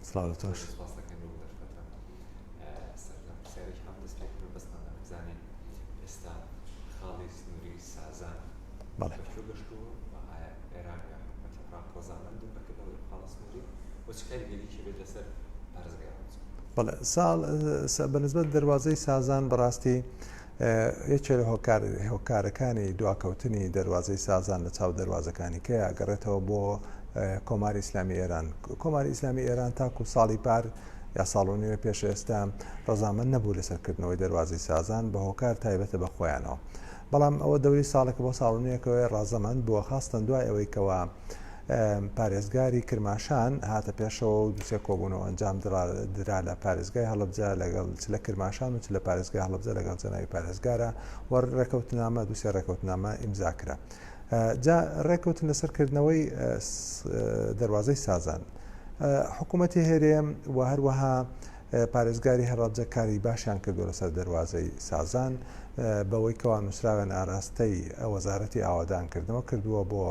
سڵاو تۆش ئێستا خاڵی سنووری سازان بەڵێ گەشتووە ئێران ڕاپۆزانند بەکردەوە خاڵە سنووری وەچکاری گەلیکی بێت لەسەر پارێزگا بەڵێ ساڵ بەنسبەت دەواازەی سازان بەڕاستی یەکێ لە هۆکار هۆکارەکانی دواکەوتنی دەروازەی سازان لە چاو دەروازەکانی کە ئەگەڕێتەوە بۆ کۆماری ئیسلامی ئێران کۆماری ئیسلامی ئێران تاکو ساڵی پار یا ساڵ و نوێ پێش ئێستا ڕزامەند نەبوو لەسەرکردنەوەی دەروازی سازان بە هۆکار تایبەتە بە خۆیانەوە بەڵام ئەوە دەوری ساڵێک بۆ ساڵ و نوێکەوەی ڕازەمەند بووە خاستن دوای ئەوەی کەەوە پارێزگاری کرماشان هاتە پێشەوە و دوو سێ کۆبوونەوە ئەنجام درا لە پارێزگای هەڵەبجە لەگەڵ چ لە کرماشان و چ لە پارێزگای هەڵەبجە لەگەڵ جەناوی پارێزگارە و ڕێکەوتنامە دوو سێ ڕێکەوتنامە ئیمزا کرا جا ڕێکەوتن لەسەر کردنەوەی دەواازەی سازان حکوومەتی هەرێم و هەروەها پارێزگاری هەڕابجە کاری باشیان کردو لەسەر دەواازەی سازان بەوەی کەوا نووسراوێن ئاراستەی وەزارەتی ئاوادان کردنەوە کردووە بۆ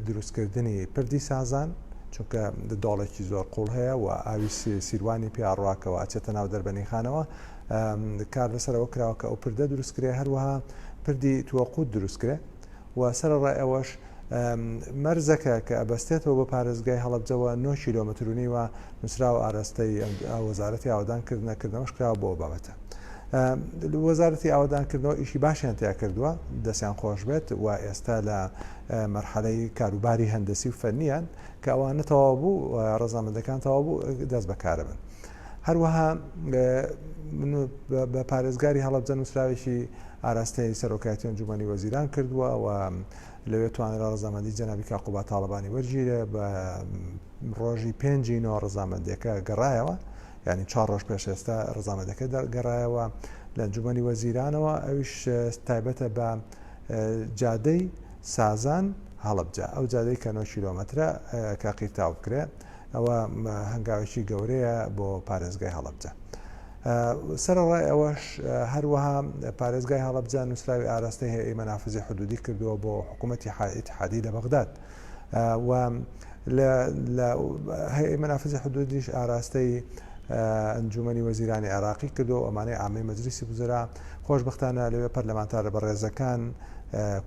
دروستکردنی پردی سازان چونکە دۆڵێکی زۆر قوڵ هەیە و ئاوی سیروانی پیاڕواکەوە ئەچێتە ناو دەربەنی خانەوە کار لەسەرەوە کراوە کە ئەو پردە دروستکرێ هەروەها پردی توەقوت دروستکرێ و سەرڕای ئەوەش مەرزەکە کە ئەبەستێتەوە بە پارێزگای هەڵبجەوە 9 کیلومترونی و نووسراوە ئارەستەی وەزارەتی ئاوادان کردنەکردنەوەش کراوە بۆ بابەتە. وەزارەتی ئاوادانکردنەوە ئیشی باشیان تیا کردووە دەستیان خۆش بێت و ئێستا لە مەرحەلەی کاروباری هەندسی و فەرنیان کە ئەوانە تەواو بوو ڕزامەندەکان تەواو بوو دەست بەکارە بن هەروەها بە پارێزگاری هەڵبجە نووسراوێکی ئاراستەی سەرۆکایەتی ئەنجومەنی وەزیران کردووە و لەوێ توانرا ڕزامەندی جەنابی کاقوبا تاالبانی وەرگیرە بە ڕۆژی پێنجی نۆ ڕزامەندەکە گەڕایەوە ینی چا ڕۆژ پێش ئێستا ڕزامەندەکە دەگەڕایەوە لە جومەنی وەزیرانەوە ئەوش تایبەتە بە جادەی سازان هەڵبجە ئەو جادەی کە 9 کیلومترە کە قیرتاو بکرێ ئەوە هەنگاوێکی گەورەیە بۆ پارێزگای هەڵبجە. سەرڕای ئەوەش هەروەها پارێزگای هەڵبجە نووسراوی ئاراستەی هەیە مەنافزی حدودی کردووە بۆ حکوومەتتی حائیت حادی لە بەغداد. و لە هەیئەی مەنافزی حدودیش ئاراستەی ئەنجوومەنی وەزیرانی عێراقی کردو ئەمانەی عامەی مەجلیسی وزرا خۆشبختانە لەوێ پەرلەمانتارە بەڕێزەکان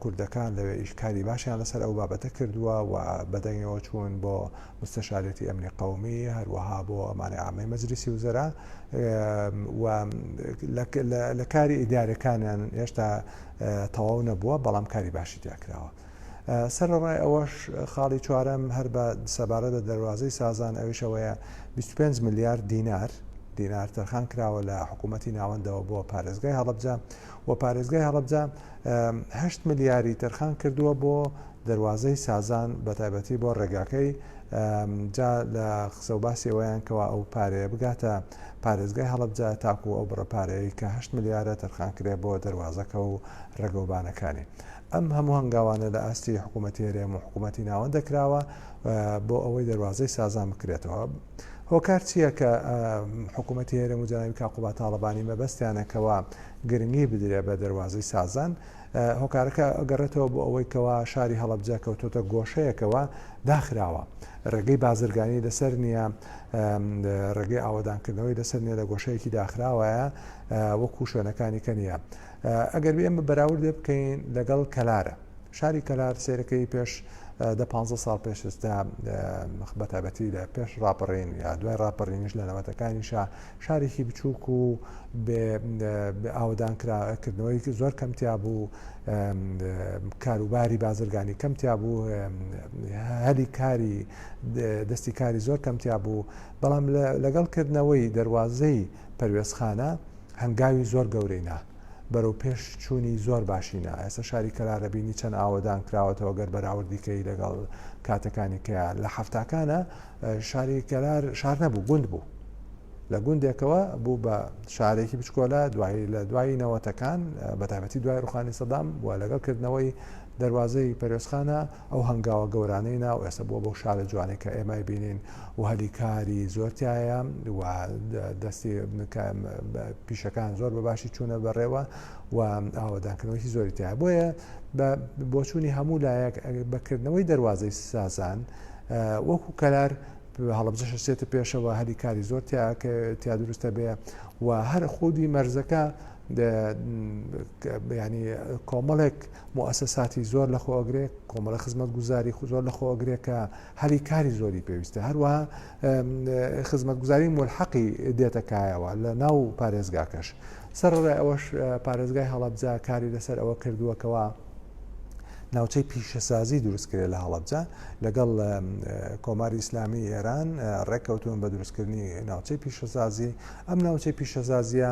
کوردەکان لەوێ ئیش کاری باشیان لەسەر ئەو بابەتە کردووە و بەدەنگەوە چوون بۆ مستەشارەتی ئەمنی قومی هەروەها بۆ ئەمانەی عامەی مەجلیسی وزرا لە کاری ئیدارەکانیان هێشتا تەواو نەبووە بەڵام کاری باشی دیاکراوە سەرەڕای ئەوەش خاڵی چوارەم هەر بە سەبارەت بە دەروازەی سازان ئەویش ئەوەیە بیست و پێنج ملیار دینار دینار تەرخان کراوە لە حکوومەتی ناوەندەوە بۆ پارێزگای هەڵبجە و پارێزگای هەڵبجە هەشت ملیاری تەرخان کردووە بۆ دەروازەی سازان بە تایبەتی بۆ ڕێگاکەی جا لە قسە و باسیەوەیان کەوا ئەو پارەیە بگاتە پارێزگای هەڵبجە تاکو ئەو بڕە پارەیە کە هەشت ملیارە تەرخان کرێ بۆ دەروازەکە و ڕێگەوبانەکانی ئەم هەموو هەنگاوانە لە ئاستی حکوومەتی هەرێم و حکوومەتی ناوەندە کراوە بۆ ئەوەی دەواازەی سازان بکرێتەوە. هۆکار چییە کە حکوومەتی هەرێم و جەناوی کاقوبا تاالبانی مەبەستیانەکەەوە گرنگی بدرێ بە دەواازەی سازان هۆکارەکە ئەگەڕێتەوە بۆ ئەوەی کەوا شاری هەڵبجە کەوتۆتە گۆشەیەکەوە داخراوە ڕێگەی بازرگانی لەسەر نییە ڕێگەی ئاوادانکردنەوەی لەسەر نیە لە گۆشەیەکی داخراوەیە وەکو شوێنەکانی کە نیە. ئەگەر ئێمە بەراوردێ بکەین لەگەڵ کەلارە شاری کەلار سێرەکەی پێش دە پ ساڵ پێش ئستا بەتابەتی لە پێش ڕاپەڕین یا دوای ڕاپەڕینش لە نەوەتەکانیشا شارێکی بچووک و ئاودان کردنەوەی زۆر کەمتیا بوو کاروباری بازرگانی کەمتیا بوو هەلی کاری دەستی کاری زۆر کەمتیا بوو بەڵام لەگەڵ کردنەوەی دەواازەی پەروێزخانە هەنگاوی زۆر گەورەی نا، بەرەو پێش چوونی زۆر باشی نا، ئێستا شاری کەلارەبینی چەند ئاوەدان کراوەتەوە گەر بەراوردی کەی لەگەڵ کاتەکانی کە لە حەفتاکانە شاری کەلار شار نەبوو گوند بوو. لە گوندێکەوە بوو بە شارێکی بچکۆلە دوایی لە دوایی نەوەتەکان بەتابەتی دوای ڕوخانی سەدام و لەگەڵ کردنەوەی دەواازەی پەرۆسخانە ئەو هەنگاوە گەورانەی نا و ئێستا بووە بەو شارە جوانەی کە ئێمە ئەیبینین و هەلی کاری زۆر تایە و دەستی پیشەکان زۆر بە باشی چوونە بەڕێوە و ئاوادانکردنەوەی زۆری تایە بۆیە بە بۆچوونی هەموو لایەک بەکردنەوەی دەواازەی سازان وەکو کەلار هەڵبجەشە سێتە پێشەوە هەلی کاری زۆر تیا دروستە بێ و هەر خودی مەرزەکە ینی کۆمەڵێک موسەساتی زۆر لە خۆگرێک کۆمەڵە خزمەت گوزاری زۆر لە خۆگرێکە هەلی کاری زۆری پێویستە هەروە خزمەت گوزاری ملحەقی دێتەکایەوە لە ناو پارێزگاکەش سەر ڕێ ئەوەش پارێزگای هەڵەبجە کاری لەسەر ئەوە کردووەکەوە ناوچەی پیشەسازی دروستکرێ لە هەڵەبجە لەگەڵ کۆماری ئیسلامی ئێران ڕێککەوتون بە دروستکردنی ناوچەی پیشەسازی ئەم ناوچەی پیشەسازیە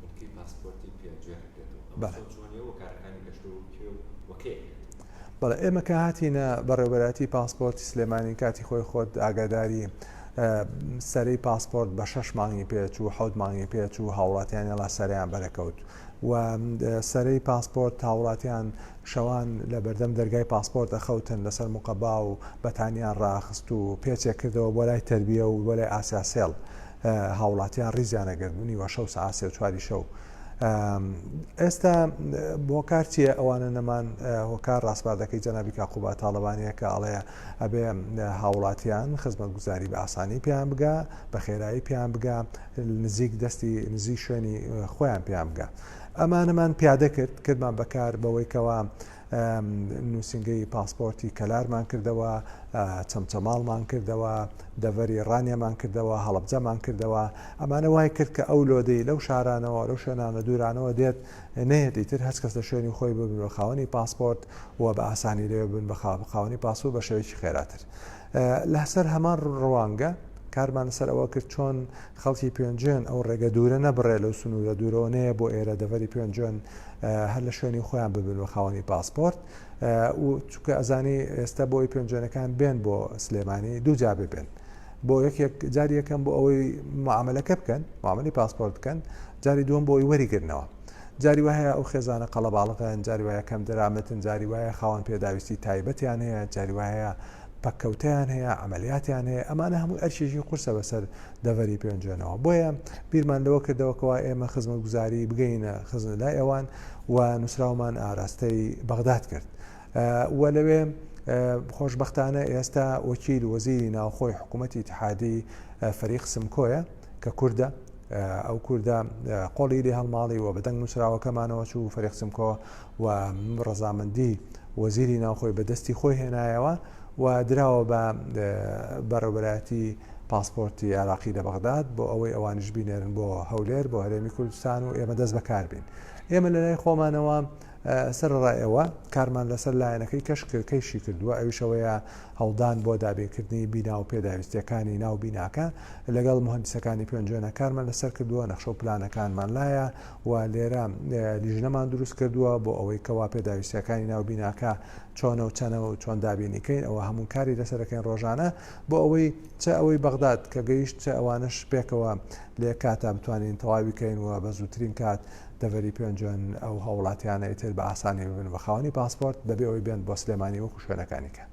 بنکەی پاسپۆرتی پێ گوێ ئەگرێتەوە ئەم بەڵێ. سەوچووە نێو وەکارەکانی گەشتەوە و کوێ و وە کەی ئەکرێت؟ بەڵێ ئێمە کە هاتینە بەڕێوەبەرایەتی پاسپۆرتی سلێمانی کاتی خۆی خۆت ئاگاداری سەرەی پاسپۆرت بە شەش مانگی پێ چوو حەوت مانگی پێ چوو هاوڵاتیانی ڵا سەرەیان بەرەکەوت و سەرەی پاسپۆرت هاوڵاتیان شەوان لە بەردەم دەرگای پاسپۆرت ئەخەوتن لەسەر مقەبا و بەتانیان ڕاخست و پێچێک کردەوە بۆ لای تەربیە و بۆ لای ئاسیا سێڵ هاوڵاتیان ریزیان ئەگەر بوونی وە شەو سعات سێ و چواری شەو ئێستا بۆکار چیە ئەوانە نەمان هۆکار ڕاستپاردەکەی جەنابی کاقوبا تاالبانەیە کە ئاڵەیە ئەبێ هاوڵاتیان خزمەت گوزاری بە ئاسانی پێیان بگا بە خێرایی پێیان بگا نزیک دەستی نزی شوێنی خۆیان پێیان بگا ئەمانەمان پیادە کرد کردمان بەکار بەوەیکەوە نووسینگەی پاسپۆرتی کەلارمان کردەوە، چەمچەماڵمان کردەوە، دەڤەری ڕانیەمان کردەوە، هەڵەبجەمان کردەوە، ئەمانە وای کرد کە ئەو لۆدەی لەو شارانەوە، لەو شوێنانە دوورانەوە دێت نەیەت ئیتر هەچ کەس لە شوێنی خۆی ببن بە خاوەنی پاسپۆرت و بە ئاسانی لەوێ ببن بە خاوەنی پاسپۆرت بە شێوەیەکی خێراتر لە سەر هەمان ڕوانگە. کارمان لەسەر ئەوە کرد چۆن خەڵکی پێنجێن ئەو ڕێگە دوورە نەبڕێ لەو سنوورە دوورەوە نەیە بۆ ئێرە دەڤەری پێنجێن هەر لە شوێنی خۆیان ببن و خاوەنی پاسپۆرت و چکە ئەزانی ئێستا بۆی پێنجێنەکان بێن بۆ سلێمانی دوو جا ببێن. بۆ یەکێک جاری یەکەم بۆ ئەوەی معاملەکە بکەن معاملی پاسپۆرت بکەن جاری دووەم بۆی وەریگرنەوە جاری وایە ئەو خێزانە قەڵەباڵغن جاری وایە کەم دەرامەتن جاری وایە خاوەن پێداویستی تایبەتیان هەیە جاری وایە پەککەوتەیان هەیە، عەمەلیاتیان هەیە، ئەمانە هەمووی ئەرکێکی قورسە بەسەر دەڤەری پێنجوێنەوە. بۆیە بیرمان لەوە کردەوە کەوا ئێمە خزمەتگوزاری بگەیینە خزم لای ئەوان و نووسراومان ئاراستەی بەغداد کرد و لەوێ خۆشبەختانە ئێستا وەکیل وەزیری ناوخۆی حکوومەتی اتحادی فەریق سمکۆیە کە کوردە ئەو کوردە قۆڵی لێ هەڵماڵی و بەدەنگ نووسراوەکەمانەوە چوو فەریق سمکۆ و ڕەزامەندی وەزیری ناوخۆی بە دەستی خۆی هێنایەوە و دراوە بە بەڕێوەبەرایەتی پاسپۆرتی عێراقی لە بەغداد بۆ ئەوەی ئەوانیش بینێرن بۆ هەولێر بۆ هەرێمی کوردستان و ئێمە دەست بەکاربین ئێمە لە لای خۆمانەوە سەرڕایەوە کارمان لەسەر لایەنەکەی کەشکەکەیشی کردووە ئەویشەوەیە هەڵدان بۆ دابینکردنی بینا و پێداویستیەکانی ناو بیناکە لەگەڵ مهندسەکانی پێنجێنە کارمان لەسەر کردووە نەخشە و پلانەکانمان لایە و لێرە لیژنەمان دروست کردووە بۆ ئەوەی کەوا پێداویستیەکانی ناو بیناکە چۆنە و چەنە و چۆن دابینیکەین ئەوە هەموو کاری لەسەرەکەین ڕۆژانە بۆ ئەوەی چ ئەوەی بەغداد کە گەیشت چ ئەوانش پێکەوە لێ کاتا بتوانین تەواویکەین و بە زووترین کات دەڤەری پێنجۆن ئەو هاوڵاتیانە ئیتر بە ئاسانی ببن بە خاوەنی پاسپۆرت بەبێ ئەوەی بێن بۆ سلێمانی وەکو شوێنەکانی کە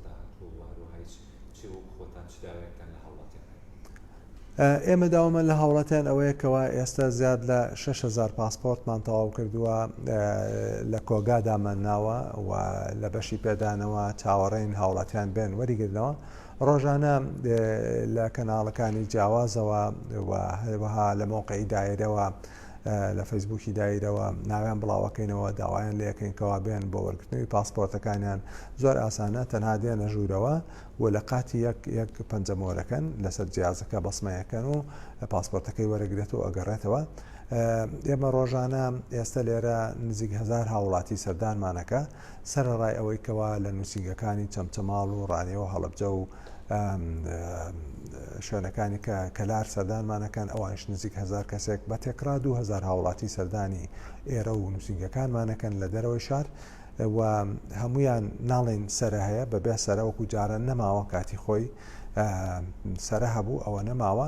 داهاتووە و هەروەها هیچ چی وەک خۆتان چ داوایەکتان لە هاوڵاتیان هەیە؟ ئێمە داوامان لە هاوڵاتیان ئەوەیە کەوا ئێستا زیاد لە شەش هەزار پاسپۆرتمان تەواو کردووە لە کۆگا دامانناوە و لە بەشی پێدانەوە چاوەڕێین هاوڵاتیان بێن وەریگرنەوە ڕۆژانە لە کەناڵەکانی جیاوازەوە و هەروەها لە مەوقەی دایرەوە لە فەیسبووکی دایرەوە ناویان بڵاوەکەینەوە داوایان لەکەین کەوا بێن بۆ وەرگرتنەوەی پاسپۆرتەکانیان زۆر ئاسانە تەنها دێنە ژوورەوە و لە قاتی یەک یەک پەنجەمۆرەکەن لەسەر جیازەکە بەسمەیەکەن و پاسپۆرتەکەی وەرەگرێت و ئەگەڕێتەوە ئێمە ڕۆژانە ئێستا لێرە نزیک هزار هاوڵاتی سەردانمانەکە سەرەڕای ئەوەی کەوا لە نووسینگەکانی چەمچەماڵ و ڕانیە و هەڵەبجە و شوێنەکانی کە کەلار سەردانمانەکەن ئەوانش نزیک هزار کەسێک بە تێکرا دو هزار هاوڵاتی سەردانی ئێرە و نووسینگەکانمانەکەن لە دەرەوەی شار و هەمویان ناڵین سرە هەیە بەبێ سەرەوەکو جاران نەماوە کاتی خۆی سرە هەبوو ئەوە نەماوە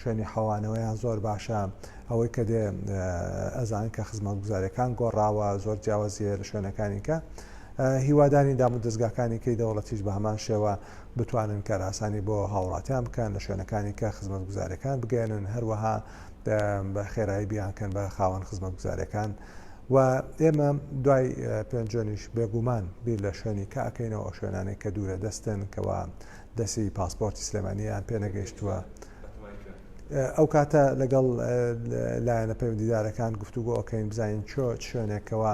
شوێنی حەوانەوەیان زۆر باشە، ئەوەی کە دێ ئەزانن کە خزمەتگوزاریەکان گۆڕاوە زۆر جیاوازیە لە شوێنەکانی کە هیوادارین دام و دەستگاکانی کەی دەوڵەتیش بە هەمان شێوە بتوانن کاراسانی بۆ هاوڵاتیان بکەن لە شوێنەکانی کە خزمەتگوزارەکان بگەێنن هەروەها بە خێرایی بیانکەن بە خاوەن خزمەتگوزارەکان و ئێمە دوای پێنجۆنیش بێگومان بیر لە شوێنی کە ئەکەینەوە شوێنانێک کە دوورە دەستن کەوا دەسی پاسپۆرتی سلێمانییان پێنەگەیشتووە ئەو کاتە لەگەڵ لایەنە پەیوەندیدارەکان گفتوگۆ ئۆکەین بزانین چۆ شوێنێکەوە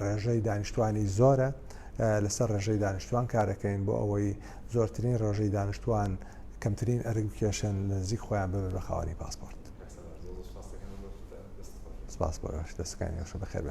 ڕێژەی دانیشتوانی زۆرە لەسەر ڕێژەی دانیشتوان کارەکەین بۆ ئەوەی زۆرترین ڕێژەی دانیشتوان کەمترین ئەرگ کێشن لە نزیک خۆیان ببێت بە خاوەنی پاسپۆرت سپاس بۆ دەستەکانی یاشە بەخێر